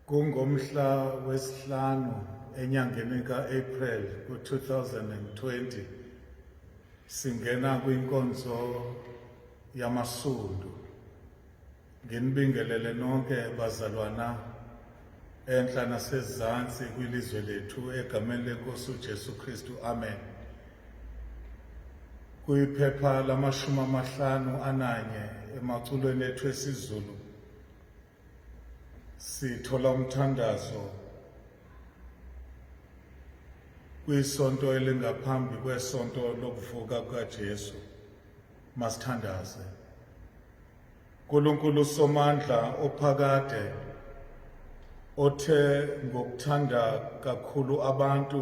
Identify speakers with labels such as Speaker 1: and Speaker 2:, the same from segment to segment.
Speaker 1: Kungomhla wesihlanu enyangeni ka-April ku-2020 singena kwinkonzo yamasundu. Nginibingelele nonke bazalwana enhla nasezansi kwilizwe lethu egameni lenkosi uJesu Kristu. Amen. Kuyiphepha lamashumi amahlanu ananye emaculweni ethu esiZulu Sithola umthandazo kwisonto elingaphambi kwesonto lokuvuka kukaJesu masithandaze Nkulunkulu somandla ophakade othe ngokuthanda kakhulu abantu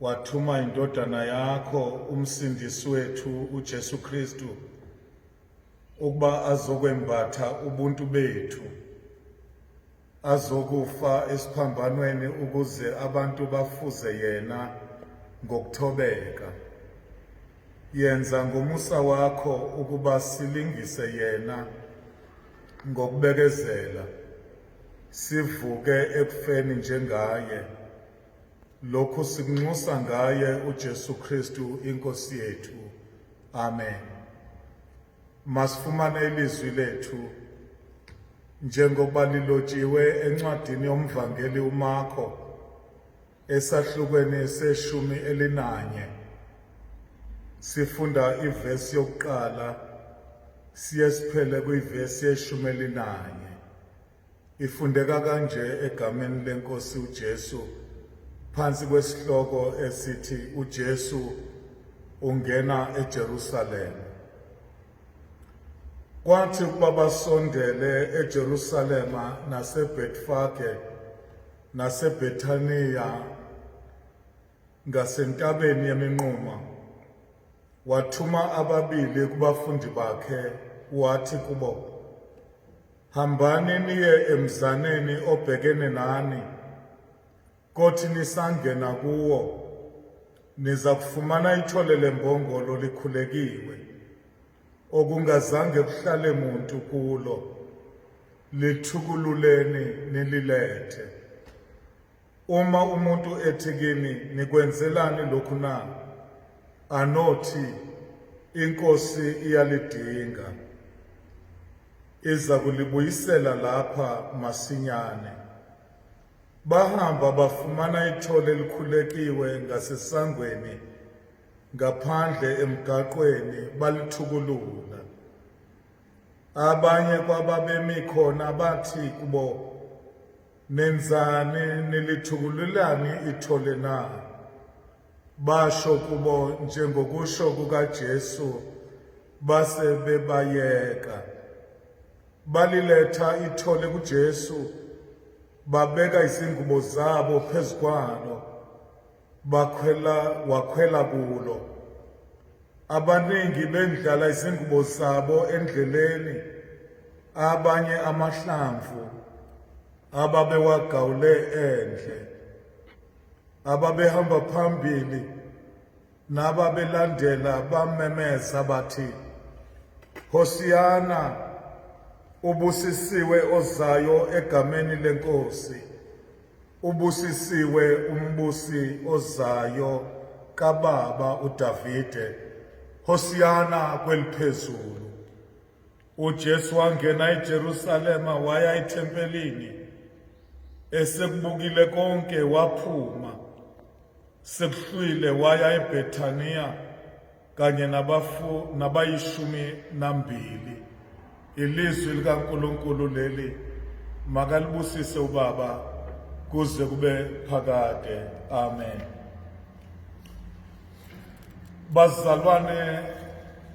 Speaker 1: wathuma indodana yakho umsindisi wethu uJesu Kristu ukuba azokwembatha ubuntu bethu azokufa esiphambanweni ukuze abantu bafuze yena ngokuthobeka yenza ngomusa wakho ukuba silingise yena ngokubekezela sivuke ekufeni njengaye lokhu sikunxusa ngaye uJesu Kristu inkosi yethu Amen. Masifumane ilizwi lethu njengoba lilotshiwe encwadini yomvangeli uMarko esahlukweni seshumi elinanye. Sifunda ivesi yokuqala siye siphele kwivesi yeshumi elinanye. Ifundeka kanje egameni lenkosi uJesu phansi kwesihloko esithi uJesu ungena eJerusalema. Kwathi ukuba basondele eJerusalema naseBetfage naseBethaniya ngasentabeni yeminquma wathuma ababili kubafundi bakhe wathi kubo Hambani niye emzaneni obhekene nani, kothi nisangena kuwo niza kufumana ithole lembongolo likhulekiwe, okungazange kuhlale muntu kulo, lithukululeni nililethe. Uma umuntu ethi kimi nikwenzelani lokhu na anothi inkosi iyalidinga iza kulibuyisela lapha masinyane bahamba bafumana ithole elikhulekiwe ngasesangweni ngaphandle emgaqweni balithukulula abanye kwababemi khona bathi kubo Nenzani nilithukululani ithole na? Basho kubo njengokusho kukaJesu base bebayeka. Baliletha ithole kuJesu babeka izingubo zabo phezu kwalo. bakhwela wakhwela kulo abaningi bendlala izingubo zabo endleleni abanye amahlamvu ababewagawule endle ababehamba phambili nababelandela bamemeza bathi Hosiyana ubusisiwe ozayo egameni lenkosi Ubusisiwe umbusi ozayo kababa uDavide, Hosiyana kweliphezulu. UJesu wangena eJerusalema waya ethempelini, esekubukile konke waphuma, sekuhlwile waya eBethaniya kanye nabafu nabayishumi nambili ilizwi likaNkulunkulu leli makalibusise ubaba kuze kube phakade amen bazalwane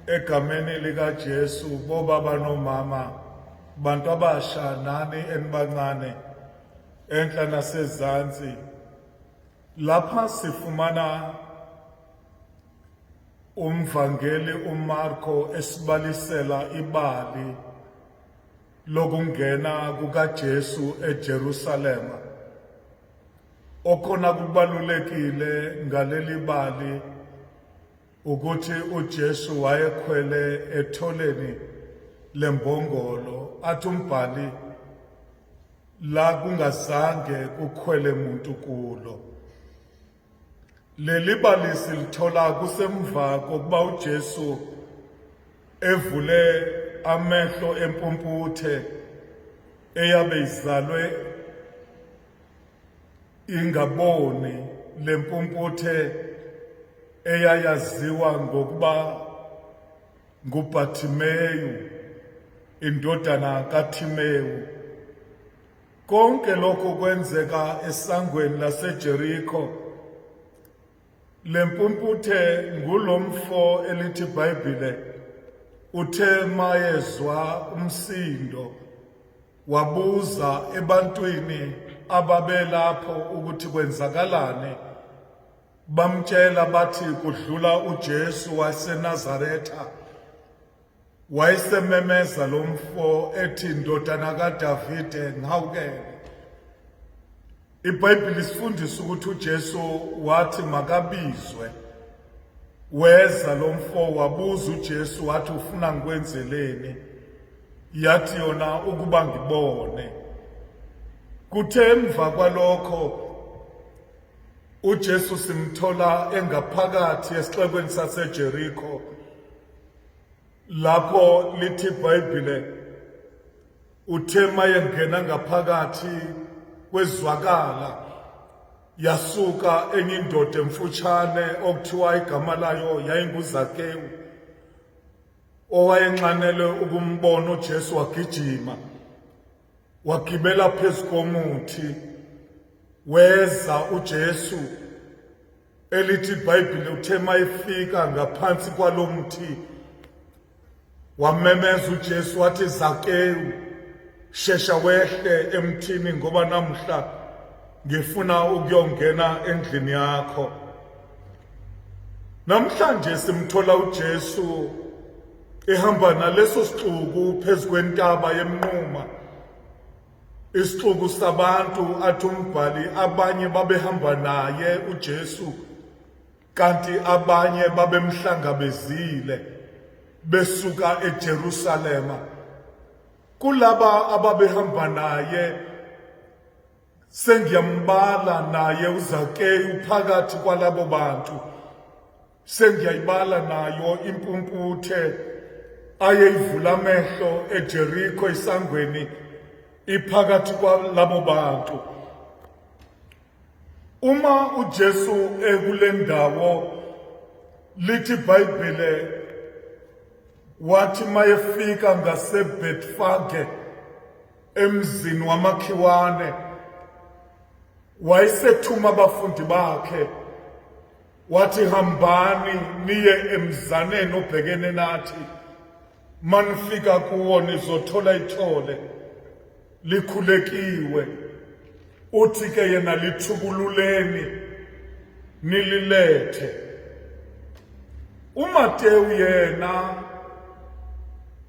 Speaker 1: egameni likaJesu bobaba nomama bantu abasha nani enibancane enhla nasezantsi Lapha sifumana umvangeli uMarko esibalisela ibali lokungena kukaJesu eJerusalema. Okhona kubalulekile ngaleli bali Ukuthi uJesu wayekhwele etholeni lembongolo athi umbhali la kungazange kukhwele muntu kulo. Leli balisi lithola kusemva kokuba uJesu evule amehlo empumputhe eyabe izalwe ingaboni le mpumputhe eyayaziwa ngokuba nguBhathimeyu indodana kaThimewu konke lokhu kwenzeka esangweni laseJeriko Le mpumputhe ngulo mfo elithi Bhayibhile uthe mayezwa umsindo wabuza ebantwini ababelapho ukuthi kwenzakalani bamtshela bathi kudlula uJesu waseNazaretha Wayesememeza lo mfo ethi ndodana kaDavide ngihawukele. IBhayibheli sifundisa ukuthi uJesu wathi makabizwe. Weza lo mfo wabuza uJesu wathi ufuna ngikwenzeleni? Yathi yona ukuba ngibone. Kuthe emva kwalokho uJesu simthola engaphakathi esixekweni saseJeriko Lapho lithi iBhayibhile uthe mayengena ngaphakathi kwezwakala yasuka enye indoda emfutshane okuthiwa igama layo yayinguZakewu owayenxanele ukumbona uJesu wagijima wagibela phezu komuthi weza uJesu elithi ibhayibhile uthe uma efika ngaphansi kwalo mthi wamemeza ujesu wathi zakewu shesha wehle emthini ngoba namhla ngifuna ukuyongena endlini yakho namhlanje simthola ujesu ehamba naleso sixuku phezu kwentaba yemnquma Isixuku sabantu athi umbhali abanye babehamba naye uJesu kanti abanye babemhlangabezile besuka eJerusalema. Kulaba ababehamba naye sengiyambala naye uZakeyu phakathi kwalabo bantu. Sengiyayibala nayo impumputhe ayeyivula amehlo eJeriko isangweni iphakathi kwalabo bantu. Uma uJesu ekule ndawo lithi iBhayibhile wathi mayefika ngaseBetfage emzini wamakhiwane wayesethuma abafundi bakhe Wathi hambani niye emzaneni obhekene nathi manifika kuwo nizothola ithole likhulekiwe uthi ke yena lithukululeni nililethe uMatewu yena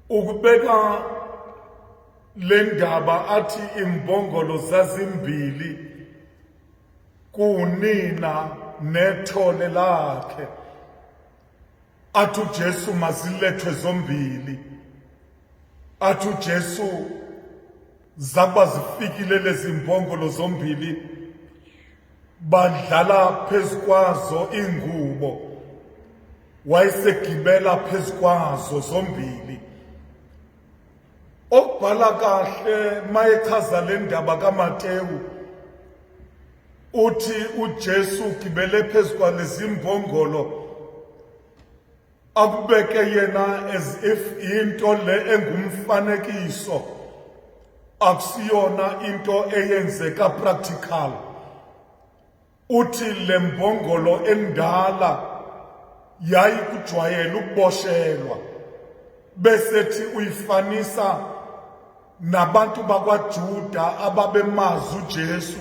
Speaker 1: ukubeka le ndaba athi imbongolo zazimbili kuwunina nethole lakhe athi uJesu mazilethwe zombili athi uJesu zaba zifikile lezi mbongolo zombili badlala phezu kwazo ingubo wayesegibela phezu kwazo zombili Obhala kahle mayechaza le ndaba kaMatewu uthi uJesu ugibele phezu kwalezimbongolo akubeke yena as if into le engumfanekiso akusiyona into eyenzeka practical Uthi le mbongolo endala yayikujwayela ukuboshelwa besethi uyifanisa nabantu bakwaJuda ababemazi uJesu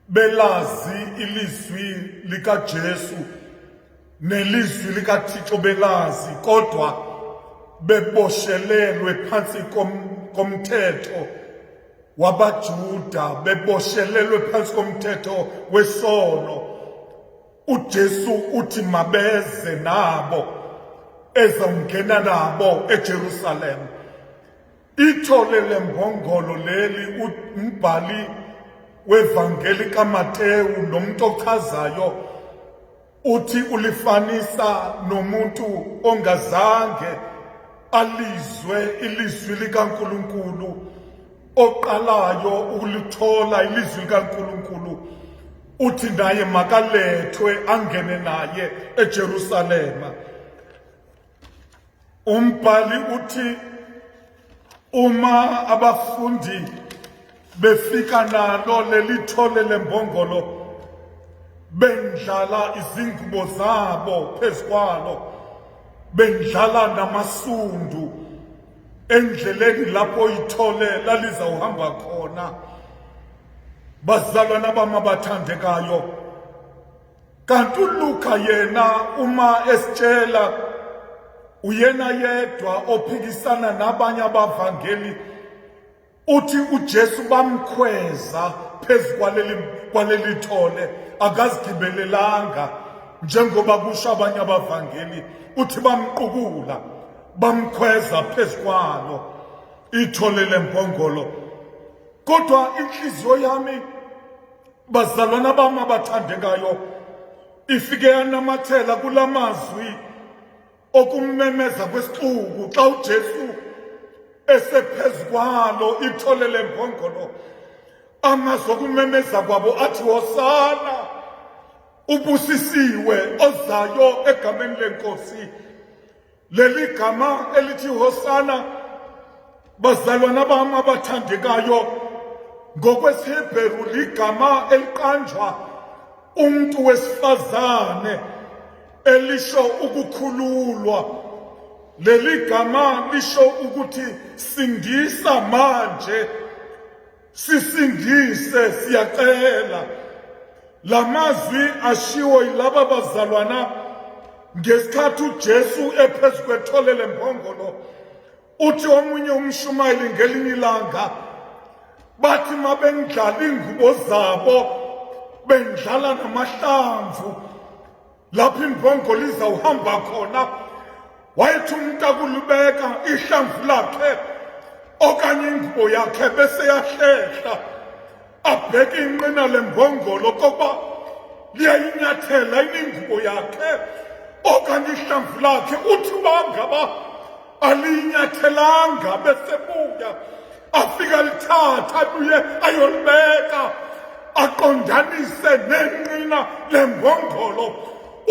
Speaker 1: belazi ilizwi likaJesu nelizwi likaThixo belazi kodwa beboshelelwe phansi komthetho wabaJuda beboshelelwe phansi komthetho wesono uJesu uthi mabeze nabo ezongena nabo eJerusalem ithole lembongolo leli umbhali wevangeli kaMateyu nomuntu ochazayo Uthi ulifanisa nomuntu ongazange alizwe ilizwi likaNkulunkulu oqalayo ukulithola ilizwi likaNkulunkulu uthi naye makalethwe angene naye eJerusalema Umbhali uthi uma abafundi befika nalo leli thole lembongolo bendlala izingubo zabo phezu kwalo bendlala namasundu endleleni lapho ithole lalizawuhamba khona bazalwana bamabathandekayo kanti uLuka yena uma esitshela uyena yedwa ophikisana nabanye abavangeli uthi uJesu bamkhweza phezu kwaleli kwaleli thole akazigibelelanga njengoba kusho abanye abavangeli uthi bamqukula bamkhweza phezu kwalo ithole lempongolo kodwa inhliziyo yami bazalwana bam abathandekayo ifike yanamathela kula mazwi okumemeza kwesixuku xa ujesu esephezu kwalo ithole lembongolo amazwi okumemeza kwabo athi hosana ubusisiwe ozayo egameni lenkosi Leli gama elithi Hosana bazalwana bami abathandekayo ngokwesiHebheru ligama eliqanjwa umuntu wesifazane elisho ukukhululwa leli gama lisho ukuthi sindisa manje Sisindise siyacela. Lamazwi ashiwo yilaba bazalwana ngesikhathi uJesu ephezu kwethole lempongolo uthi omunye umshumayeli ngelinye ilanga bathi mabengidlala ingubo zabo bendlala namahlamvu lapho imbongo lizawuhamba khona wayethi umntu akulibeka ihlamvu lakhe okanye ingubo yakhe bese yahlehla abheke inqina lembongolo kokuba liyayinyathela iningubo yakhe okanye ihlamvu lakhe uthi uba ngaba aliyinyathelanga besebuya afika lithatha abuye ayolibeka aqondanise nenqina lembongolo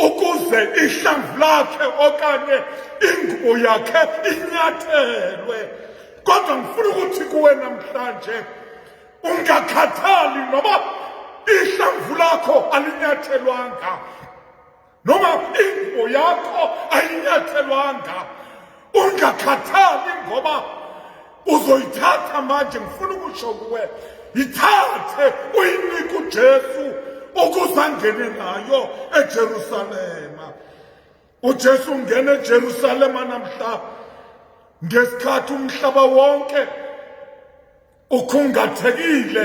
Speaker 1: ukuze ihlamvu lakhe okanye ingubo yakhe inyathelwe kodwa ngifuna ukuthi kuwe namhlanje ungakhathali noba ihlamvu lakho alinyathelwanga noma ingubo yakho ayinyathelwanga ungakhathali ngoba uzoyithatha manje ngifuna ukusho kuwe yithathe uyinike ujesu ukuze angene nayo ejerusalema ujesu ungena ejerusalema namhlaba ngesikhathi umhlaba wonke Ukhungathekile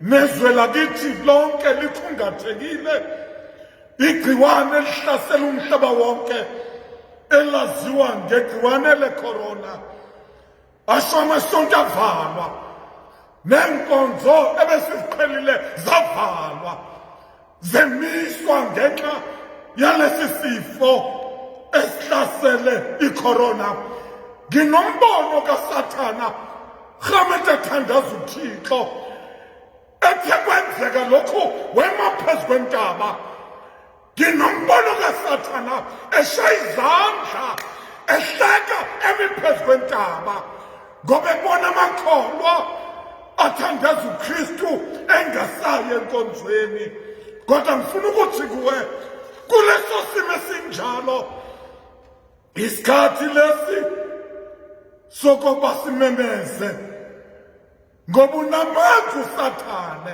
Speaker 1: nezwe lakithi lonke likhungathekile igciwane elihlasela umhlaba wonke elaziwa ngegciwane lecorona asho amasonto avalwa neenkonzo ebesiziqhelile zavalwa zemiswa ngenxa yalesi sifo esihlasele icorona nginombono kasathana rhamete athandaza uthixo ethe kwenzeka lokhu wema phezu kwentaba nginombono kasathana eshaya izandla ehleka emi phezu kwentaba ngoba ebona amakholwa athandaza uKristu engasayi enkonzweni kodwa ngifuna ukuthi kuwe kuleso simo esinjalo isikhathi lesi sokuba simemeze ngoba unamandla usathane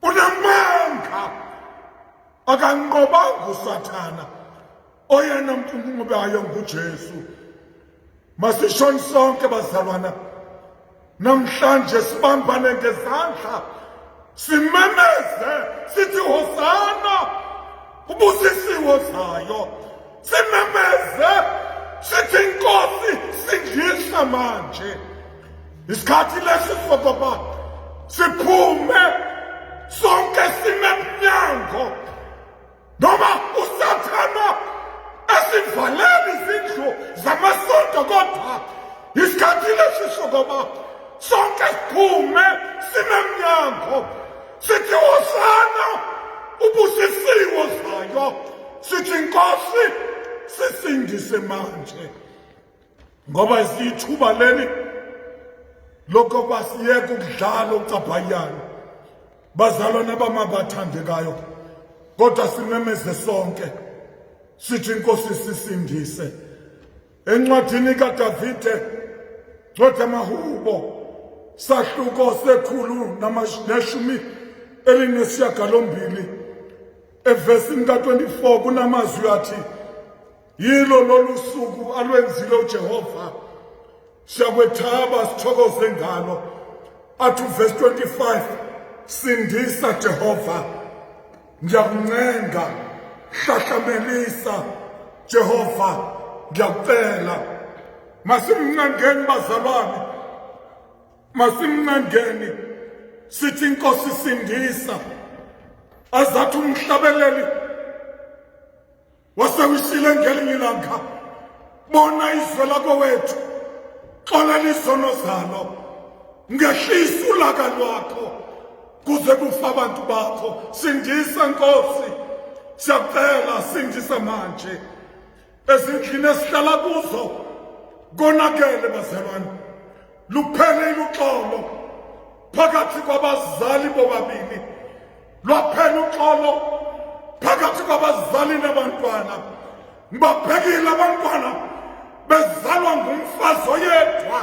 Speaker 1: unamanga akanqobanga usathana oyena mntunkulu bayo nguJesu masishoni sonke bazalwana namhlanje sibambane ngezandla simemeze sithi hosana ubusisiwe zayo simemeze sithi inkosi sindisa manje isikhathi lesi sobaba siphume sonke sime emnyango noma usathana esivalele izindlu zamasonto kodwa isikhathi lesi sokoba sonke siphume sinemnyango Sithi hosana ubusisiwe zayo sithi inkosi sisindise manje ngoba isithuba leli lokho basiyeka ukudlala ucabhayana bazalwane abamabathandekayo kodwa simemeze sonke sithi inkosi sisindise Encwadini kaDavide ncwadi yamahubo sahluko sekhulu neshumi elinesiyagalombili evesini ka-24 kunamazwi athi yilo lolu suku alwenzile ujehova siyakwethaba sithokoze ngalo athi uvesi 25 sindisa jehova ngiyakuncenga hlahlamelisa Jehova ngiyakucela masimncengeni bazalwane masimncengeni sithi inkosi sindisa azathi umhlabeleli wasewishile ngelinye ilanga bona izwe lakowethu xolela izono zalo ngehlisa ulaka lwakho kuze kufa abantu bakho sindisa nkosi siyakucela sindisa manje ezindlini esihlala kuzo konakele bazalwane Luphele uxolo phakathi kwabazali bobabini. Lwaphela uxolo phakathi kwabazali nabantwana. Ngibabhekile abantwana bezalwa ngumfazi oyedwa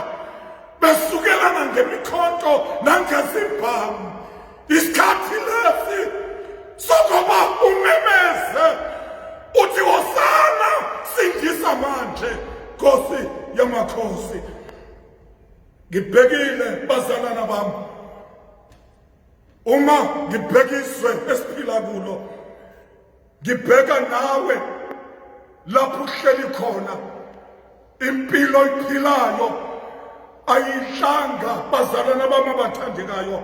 Speaker 1: besukelana ngemikhonto nangezibhamu. Isikhathi lesi sokuba umemeze uthi wosana sindisa manje nkosi yamakhosi ngibhekile bazalana bami uma ngibhekiswe esiphila kulo ngibheka nawe lapho uhleli khona impilo iphilayo ayidlanga bazalana bami abathandekayo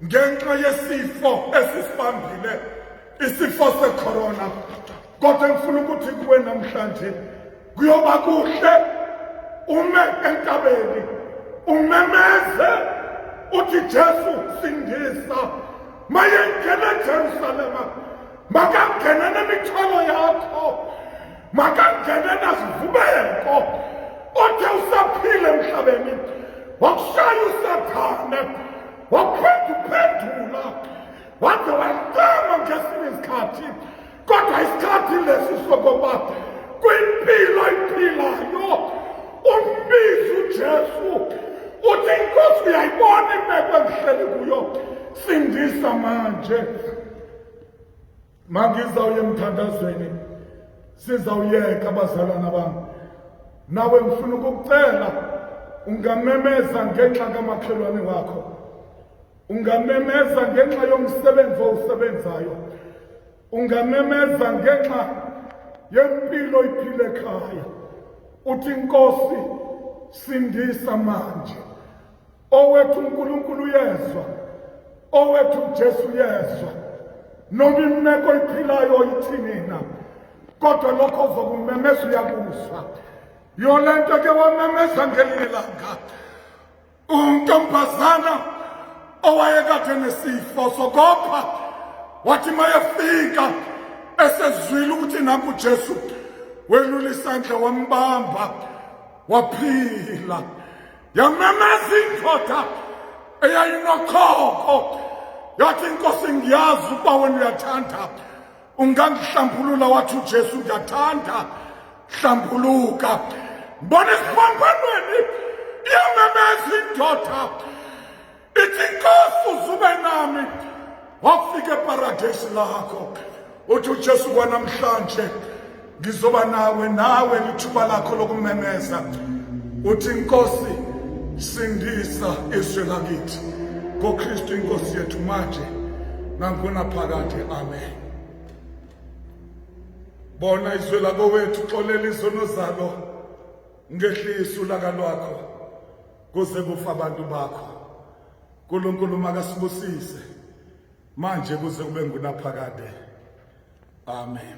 Speaker 1: ngenxa yesifo esisibambile isifo secorona kodwa ngifuna ukuthi kuwe namhlanje kuyoba kuhle ume entabeni umemeze uthi Jesu sindisa mayengena eJerusalema makangene nemithwalo yakho makangene nazivubeko othe usaphile emhlabeni wakushaya usathane waphenduphendula waze wacama ngesinye isikhathi kodwa isikhathi lesi sokokuba kwimpilo iphilayo umbizi ujesu uthi inkosi uyayibona imeko engihleli kuyo sindisa manje mangizawuye emthandazweni sizawuyeka abazalwana bami nawe ngifuna ukukucela ungamemeza ngenxa kamakhelwane wakho Ungamemeza ngenxa yomsebenzi owusebenzayo. Ungamemeza ngenxa yempilo iphile ekhaya. Uthi Nkosi sindisa manje. Owethu uNkulunkulu uyezwa. Owethu uJesu uyezwa. Noma imeko iphilayo oyithini na. Kodwa lokho uzokumemeza uyakuzwa. Yolento ke wamemeza ngelinye langa. Untombazana owayekade nesifo sokopha wathi mayefika esezwile ukuthi naku Jesu welula isandla wambamba waphila yamemeza indoda eyayinokhokho yathi inkosi ngiyazi ukuba wena uyathanda ungangihlambulula wathi uJesu ngiyathanda hlambuluka mbona esiphambhanweni iyamemeza indoda ithi nkosi uzube nami wafika eparadesi lakho uthi uJesu kwanamhlanje ngizoba nawe nawe lithuba lakho lokumemeza uthi nkosi sindisa izwe lakithi ngokristu inkosi yethu manje nangona phakade amen bona izwe lakowethu xolela izono zalo ngehlisa ulaka lwakho kuze kufa abantu bakho nkulunkulu makasibusise manje kuze kube ngunaphakade amen